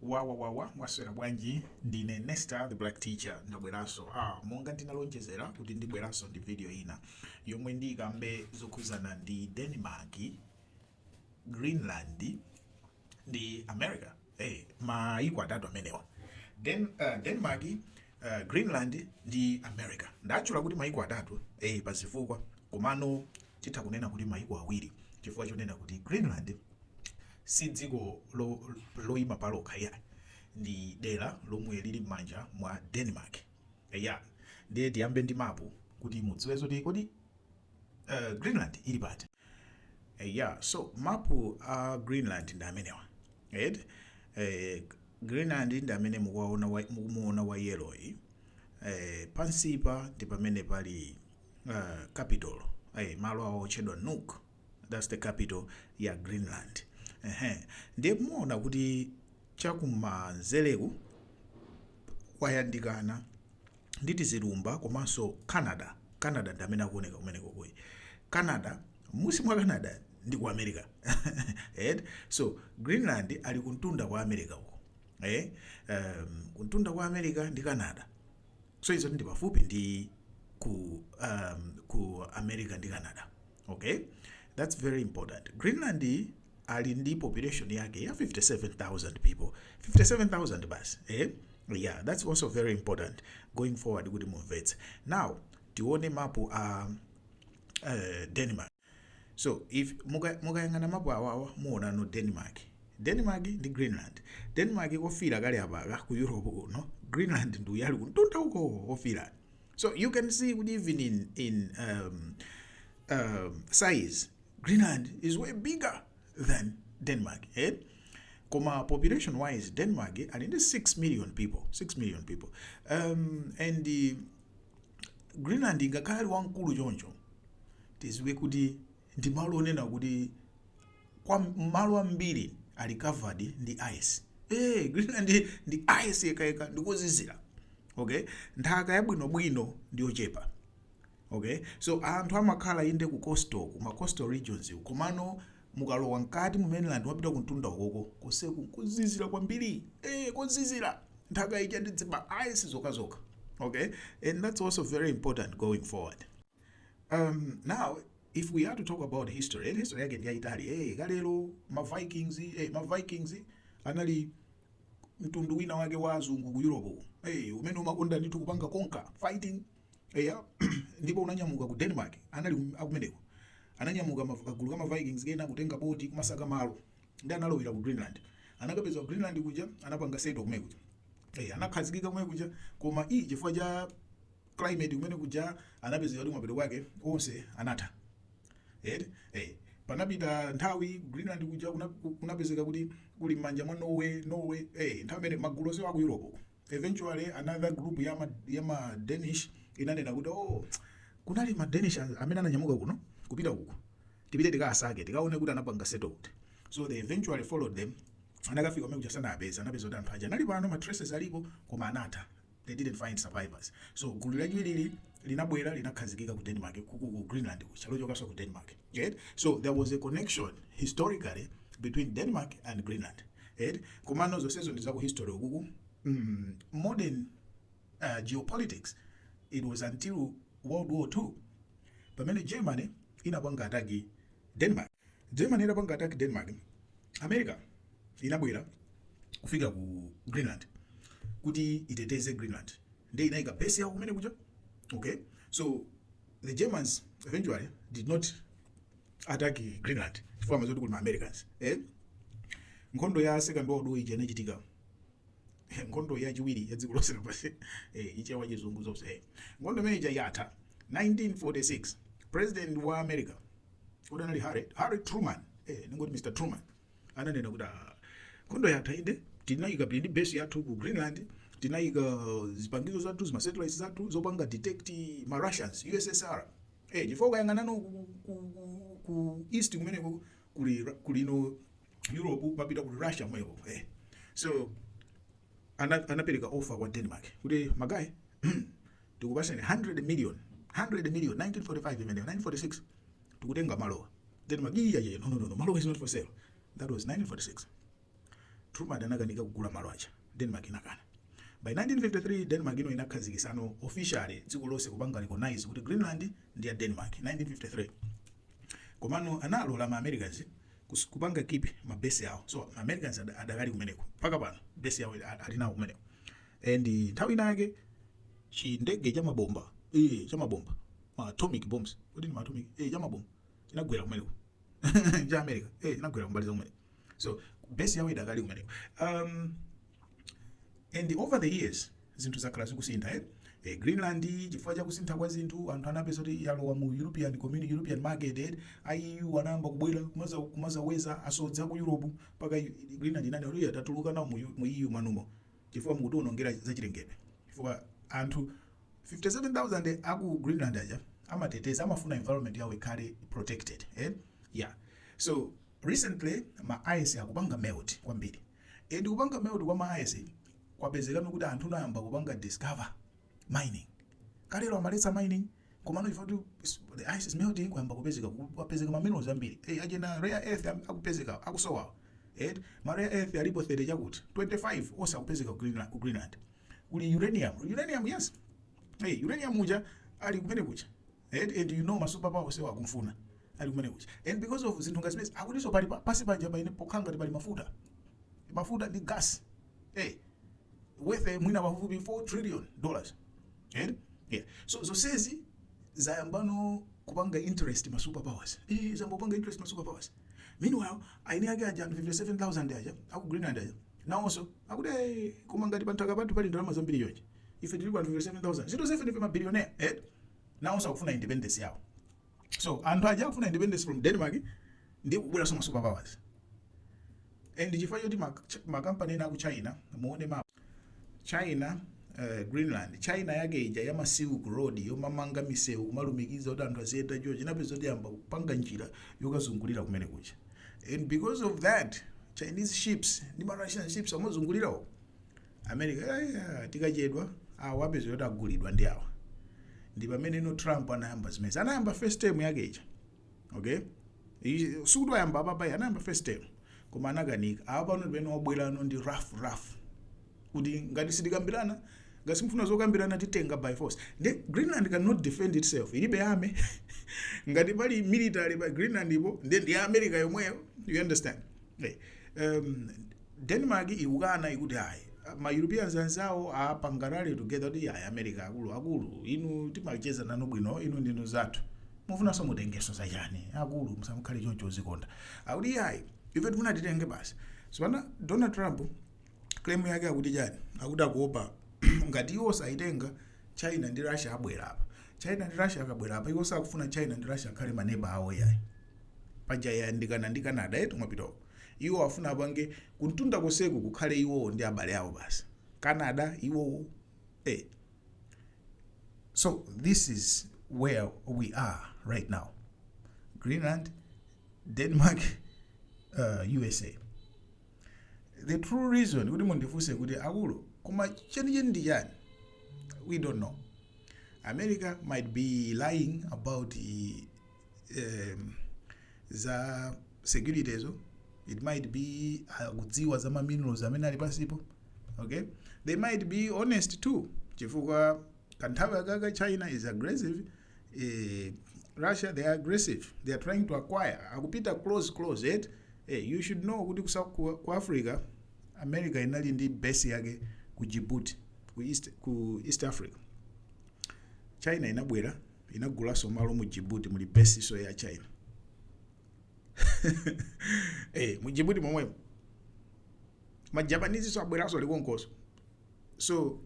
Wawawawa mwaswera bwanji ndine Nesta the black teacher ndabweranso ah monga ndinalonjezera kuti ndibweranso ndi video ina yomwe ndiyikambe zokhuzana ndi Denmark Greenland ndi America hey, eh, mayiko atatu amenewa Den, uh, Denmark uh, Greenland ndi America ndatchula kuti mayiko atatu hey, eh, pazifukwa komano Titha kunena kuti mayiko awiri chifukwa chonena kuti Greenland si dziko loima palokha iyayi, ndi dera lomwe lili m'manja mwa Denmark. Eya, ndiye tiyambe ndi mapu kuti mudziwe zoti kodi Greenland ili pati. Eya, so mapu a Greenland ndi amenewa eti. Greenland ndi amene mukumuona wa yellow yi. Pansipa ndi pamene pali. uh, capital hey, eh, malo awo otchedwa Nuuk that's the capital ya Greenland ehe ndiye muona kuti chakumanzereku kwayandikana ndi tizilumba komanso Canada Canada ndi amene akuoneka kumeneko kuyi Canada munsi mwa Canada ndi ku America right? so Greenland ali kumtunda kwa America uko eh um, kumtunda kwa America ndi Canada so izo ndi pafupi ndi ku um, ku america ndi canada okay that's very important greenland ali ndi population yake ya 57000 people 57000 basi eh? yeah that's also very important going forward kuti mumvetse now tione mapu a uh, denmark So if muka- mukayang'ana mapu awawa muonano denmark denmark ndi greenland denmark kofira kali apaka ku europe kuno greenland ndi uyu ali kumtunda uko ofira so you can see kuti even in, in um, um, size greenland is way bigger than denmark eh? koma population wise denmark ali ndi 6 million people 6 million people um, and uh, greenland ngakhale ali wamkulu choncho tidziwe kuti ndi malo onena kuti kwa malo ambiri ali covered ndi ice eh greenland ndi ice yekhayekha ndikozizira okay nthaka yabwinobwino ndiyochepa okay so anthu amakhala inde ku coastal ku ma coastal regions komano Mukalowa mkati mu mainland mwapita kumtunda ukoko, konseku nkozizira kwambiri. Eee kozizira! Nthaka ija ndi zima ice zokhazokha. Ok, and that's also very important going forward. Umm, now if we are to talk about history, and history yake ndi yayitali, eeh kalelo ma Vikings, eeh ma Vikings anali mtundu wina wake wa azungu ku Europe uko, eeh umene umakonda ndithu kupanga conquer, fighting. eya ndipo unanyamuka ku denmark anali kum- akumeneko ananyamuka ma- kagulu ka mavikings kena kutenga boti kumasaka malo ndi analowera ku greenland anakapeza ku greenland kuja anapanga settle kumene kuja Eh, anakhazikika kumene kuja koma iyi chifukwa cha climate kumene kuja anapeza kuti mapeto kwake onse anatha eti eh panapita nthawi ku greenland kuja kuna- ku- kunapezeka kuti kuli m'manja mwa norway norway eh nthawi imene magulu onse wa ku europe uko Eventually another group ya ma, ya ma Danish inanena kuti oh kunali ma Danish amene ananyamuka kuno kupita uko. Tipite tikasake, tikaone kuti anapanga settle kuti. So they eventually followed them. Anakafika kumene kuja sana- anapeza kuti anthu aja anali pano ma traces alipo koma anatha. They didn't find survivors. So gulu lachiwiri linabwera linakhazikika ku Denmark ku ku Greenland kuja lochokanso ku Denmark eti so there was a connection historically between Denmark and Greenland eti komano zonsezo ndi za ku history ukuku mm, modern uh, geopolitics it was until World War II pamene Germany inapanga attack Denmark Germany itapanga attack Denmark, America inabwera kufika ku Greenland kuti iteteze Greenland, ndiye inaika base yawo kumene kuja okay. So the Germans eventually did not attack Greenland chifukwa amadziwa kuti kuli ma Americans eh? Nkhondo ya second world war ija inachitika nkhondo yachiwiri ya dziko lonse lapansi eh, chichewa chizungu zonse eh. nkhondo imene ija yatha 1946 president wa america kodi anali harry harry truman eh, ningoti mr truman ananena kuti "Ah, nkhondo yatha inde tinayika ndi base yathu ku greenland tinayika zipangizo zathu zimasatellites zathu zopanga detect ma russians ussr eh, chifukwa ukayang'anano ku, ku, ku, ku east kumeneko kuli Ra- kulino europe mpita kuli russia mweko eh. so ana- anapereka offer kwa denmark kuti magayi tikupaseni 100 million 100 million 1945 imeneyo 1946 tikutenga malowo Denmark iya yeah, no no no malowo is not for sale that was 1946 Truman anakanika kugula malo aja Denmark inakana by 1953 Denmark ino inakhazikisano officially dziko lonse kupanga recognize kuti Greenland ndi ya Denmark 1953 komano analola ma Americans kupanga keep ma base yawo so ma Americans adakali kumeneko mpaka pano base yawo alinawo kumeneko and nthawi ina yake chindege cha mabomba eh cha mabomba ma atomic bombs kodi ni ma atomic eh cha mabomba chinagwera kumeneko cha America eh chinagwera kumbali za kumeneko so base yawo idakali kumeneko um and over the years zinthu zakhala zikusintha eh eh, greenland chifukwa cha kusintha kwa zinthu anthu anapeza kuti yalowa mu european community european market eh, eu anayamba kubwera kumaza kumazaweza asodzi aku europe mpaka greenland inanena kuti "Iya, tatuluka nawo mu, mu eu manumo chifukwa mukutiwonongera zachilengedwe chifukwa anthu 57000 aku greenland aja amateteza amafuna environment yawo ikhale protected eh? yeah. so recently ma ice akupanga melt kwambiri and kupanga melt kwa ma ice kwapezeka no kuti anthu anayamba kupanga discover mining kalero ankaletsa mining komano chifukwa kuti is- the ice is melting kwayamba kupezeka ku- kwapezeka ma minerals ambiri eh ajena rare earth am- akupezeka akusowa eh ma rare earth alipo 30 chakuti 25 onse akupezeka ku Greenland, ku Greenland kuli uranium uranium yes hey uranium uja ali kumene kuja eh and you know ma super power onsewa akumfuna ali kumene kuja and because of zinthu ngati zimenezi akutinso pali pa- pansi pa nyanja pa ine pokhanga pali mafuta mafuta ndi gas eh worth eh, mwina pafupifupi 4 trillion dollars eh yeah so zonsezi zayambano kupanga interest ma superpowers eh zayamba kupanga interest ma superpowers meanwhile eni ake aja anthu 57000 aja aku greenland aja nawonso akuti eh, koma ngati panthaka pathu pali ndalama zambiri chonchi ife tiliko anthu 57000 zinthu izi ife ndife mabilionea eh nawonso akufuna independence yawo so anthu aja akufuna independence from denmark ndi kubweranso ma super powers and chifukwa choti makampani ena aku china muone map china uh, greenland china yake ija ya silk road yomamanga misewu kumalumikiza kuti anthu aziyenda choo China inapeza kuti iyambe kupanga njira yokazungulira kumene kuja and because of that chinese ships ndi marussian ships amazungulira uko America yeah, tikachedwa awa apeza kuti agulidwa ndi awa ndi pamene no Trump anayamba zimenezi anayamba first term yake ija okay sikuti wayamba apapa ayi anayamba first term koma anakanika apa pano pamene wabwerano ndi rough rough kuti ngati sitikambirana ngati simufuna zokambirana titenga by force the greenland cannot defend itself ilibe army ngati pali military pa greenland ipo ndi ndi america yomweyo you understand hey. um, Denmark ikukana ikuti ayi ma Europeans anzawo apanga rally together kuti ayi America akulu akulu inu timacheza nanu bwino inu ndinu anzathu mufunanso mutengenso zachani akulu musamukhale choncho uzikonda akuti iyayi ife tifuna titenge basi so pano Donald Trump claim yake akuti chani akuti akuopa ngati iwo saitenga China ndi Russia abwera apa China ndi Russia akabwera apa iwo sakufuna China ndi Russia akhale maneba awo yayi paja yayandikana ndi Canada eti mwapita uko Iwo afuna apange kumtunda konseku kukhale iwowo ndi abale awo basi. Canada iwowo eh. So this is where we are right now. Greenland, Denmark, uh, USA. The true reason kuti mundifunse kuti akulu koma chenicheni ndi chani? We don't know. America might be lying about eh, eh, za securityzo it might be akudziwa za ma minerals amene ali pansipo okay they might be honest too chifukwa kanthawi akaka china is aggressive eh, russia they are aggressive they are trying to acquire akupita close close eti eh, you should know kuti kusa- ku, ku africa america inali ndi base yake ku djibouti ku east, ku east africa china inabwe inagulaso malo mu jibuti muli besiso ya china eh, mu jibuti momwemo majapanizi so abweraso alikonkoso so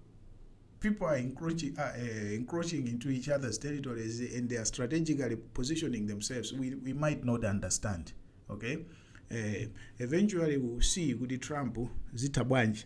people are encroaching, uh, uh, encroaching into each other's territories and they are strategically positioning themselves we, we might not understand okay uh, eventually we will see kuti trump zitha bwanji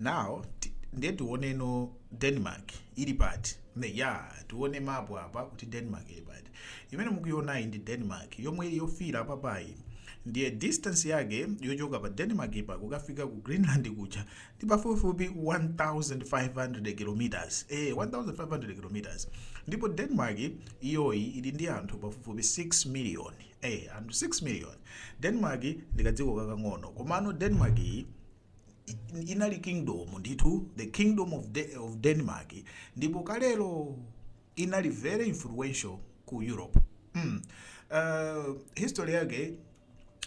now ti- ndiye tioneno denmark ili pati ndiye tione mapu apa kuti denmark ili pati imene mukuionayi ndi denmark yomwe yofiira apapayi ndiye distance yake yochoka pa denmark apa kukafika ku greenland kuja ndi pafupifupi 1500 kilometers eh 1500 kilometers ndipo denmark iyoyi ili ndi anthu pafupifupi 6 miliyoni eh anthu 6 million denmark ndi kadziko kakang'ono komano denmark iyi i- inali kingdom ndithu the kingdom of, De of denmark ndipo kalelo inali very influential ku europe mm. uh, history yake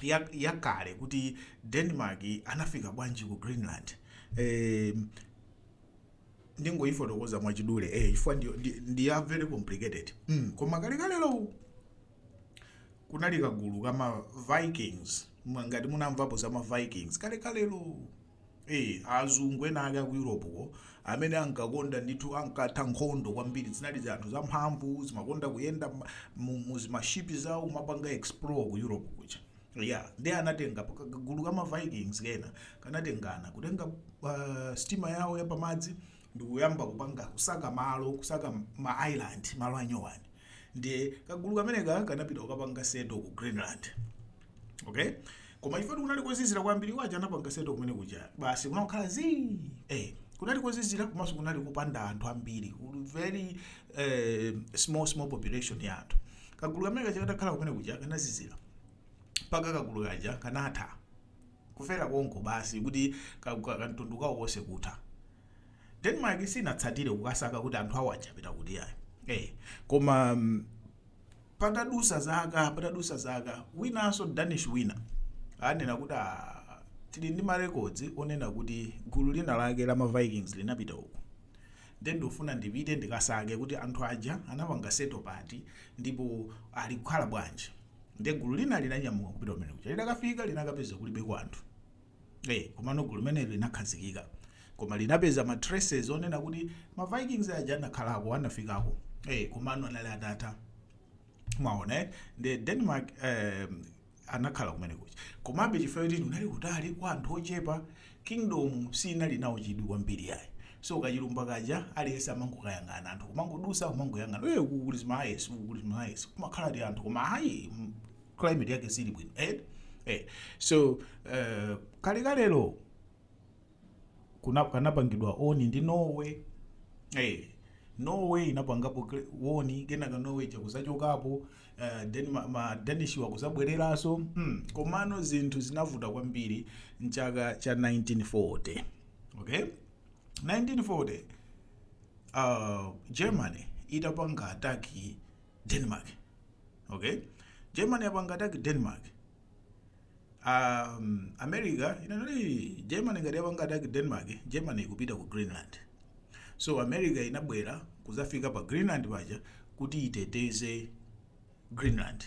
ya- yakale ya kuti denmark anafika bwanji ku greenland eh, ndingoifotokoza mwachidule eh, chifukwa ndi, ndi, ndi ya very complicated mm. koma kalekalelo kunali kagulu ka ma vikings Mwa- ngati munamvapo za ma vikings kalekalelo Eh, azungu ena ake aku europeko amene ankakonda ndithu ankatha nkhondo kwambiri zinali zianthu zamphamvu zimakonda kuyenda ma- mu- mu zimashipi zawo kumapanga explore ku europe kuja ya ndiye anatenga pa- kagulu ka ma vikings kena kanatengana kutenga uh, sitima yawo yapamadzi ndikuyamba kupanga kusaka malo kusaka ma island malo anyowani ndiye kagulu kameneka kanapita kukapanga settle ku greenland okay koma chifukwa kuti kunali kozizira kwambiri waja anapanga settle kumene kuja basi kunakhala zii eh, kunali kozizira komanso kunali kupanda anthu ambiri very eh, small small population ya anthu kagulu kamene kaja katakhala kumene kuja kanazizira mpaka kagulu kaja kanatha kufera konko basi kuti ka ka kamtundu kawo konse kutha. Denmark sinatsatire kukasaka kuti anthu awo aja apita kuti ayi. Eh, koma mm, patadusa zaka patadusa zaka winanso Danish wina anena kuti ah, tili ndi marekodzi onena kuti gulu lina lake la ma Vikings linapita uku nde ndofuna ndipite ndikasake kuti anthu aja anapanga settle pati ndipo ali kukhala bwanji Ndiye gulu lina linanyamuka kupita kumene kuja. Litakafika linakapeza kulibeko anthu. Eh, komano gulu limeneli linakhazikika. Koma linapeza ma traces onena kuti ma Vikings aja anakhalako, anafikako. Eh, komano anali atatha. Mwaona eh? Ndiye Denmark eh, anakhala kumene kuja. Komabe chifukwa choti kunali kutali kwa anthu ochepa Kingdom siinali nawo chidwi kwambiri ayi. So kachilumba kaja aliyense amangokayang'ana. Anthu kumangodusa kumangoyang'ana. Eee uku kuli zimayesi, uku kuli zimayesi. Kumakhala ti anthu koma ayi mm, climate yake sili bwino. Eh? Eh. So eh, kalekalelo ku- kanapangidwa own ndi Norway. Eh. Norway inapangapo kle- own kenaka Norway yakuzachokapo Uh, then ma, ma Danish wakuzabwereraso hmm. komano zinthu zinavuta kwambiri mchaka cha 1940 okay 1940 uh, Germany itapanga attack Denmark okay Germany yapanga attack Denmark um, America inanati Germany ngati yapanga attack Denmark Germany ikupita ku Greenland so America inabwera kuzafika pa Greenland paja kuti iteteze Greenland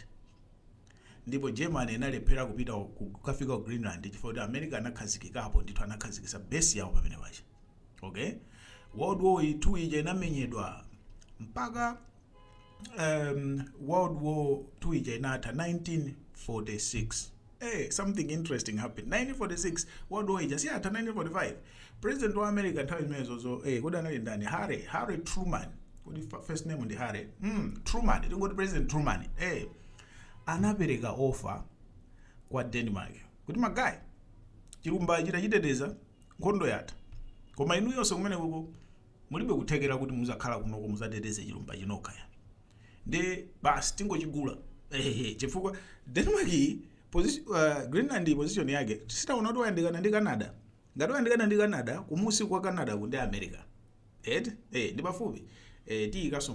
ndipo Germany inalephera kupita ku- kukafika ku Greenland chifukwa kuti America anakhazikikapo ndithu anakhazikisa base yawo pamene paja okay World War 2 ija inamenyedwa mpaka um, World War 2 ija inatha 1946 Hey, something interesting happened 1946 World War ija si yatha 1945 president wa America nthawi imeneyoyo hey, kodi anali ndani Harry Harry Truman kodi fa- first name ndi Harry mm, Truman tingoti President Truman hey, anapereka offer kwa Denmark kuti ma guy chilumba chi tachiteteza nkhondo yatha koma inuyonso kumenekuko mulibe kuthekera kuti muzakhala kunoko muzateteze chilumbachi nokha ya nde basi tingochigula ehehe chifukwa Denmark iyi posi- uh, Greenland iyi position yake si taona kuti wayandikana ndi Canada ngati wayandikana ndi Canada kumusi kwa Canada ku ndi America eti eh, ndi pafupi eh, tiyikaso